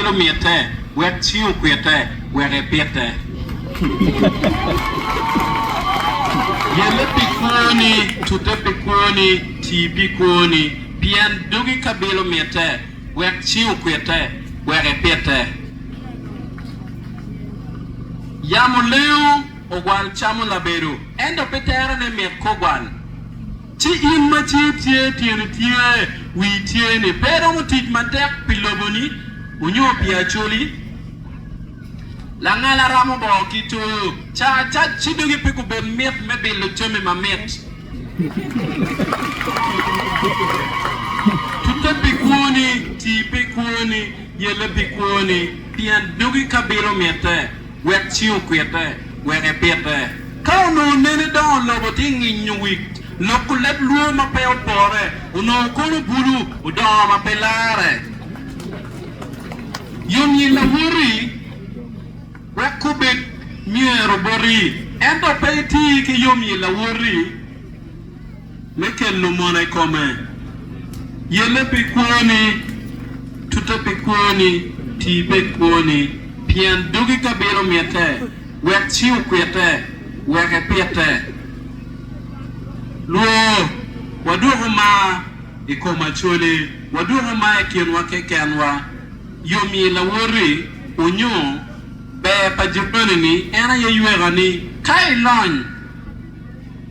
Gin omitte wek cingi okwitte wek ipite. Yelle pi kwoni, tute pi kwoni, ti pi kwoni, pien dogi kabilo mitte wek cingi okwitte wek ipite. Yamo lengo, ogwal camo labedo, ento pi terone mit kogwal. Ci in ma cer tye, tyeni tye, wii tye-ni, pe iromo tic matek pi loboni onyo pi acoli? Langala ramo boo ki toyo, ca acac ci dogi pe gubed mit me bilo jami mamit. Tute pi kwoni, tii pi kwoni, yelle pi kwoni, pien dogi ka bilo mitte. wek ci okwite, wek epite. Ka onongo nene dongo lobo tye nginyo wik, loko leb lwor ma pe opore, onongo kono bulu, odongo ma pe larre. Yomyel awoti wek gubed myero boti, ento pe iti ki yomyel awoti. me kelo mono i kome. Yelle pi kwoni, tute pi kwoni, ti be i kwoni, pien dogi ka bilo mitte, wek ci okwitte, wek epitte. Lwor, wadwoko mar i kom acoli, wadwoko mar i kinwa kekenwa. Yomyi lawoti, onyo ber pa jirani-ni en aye ywekani. Ka ilony.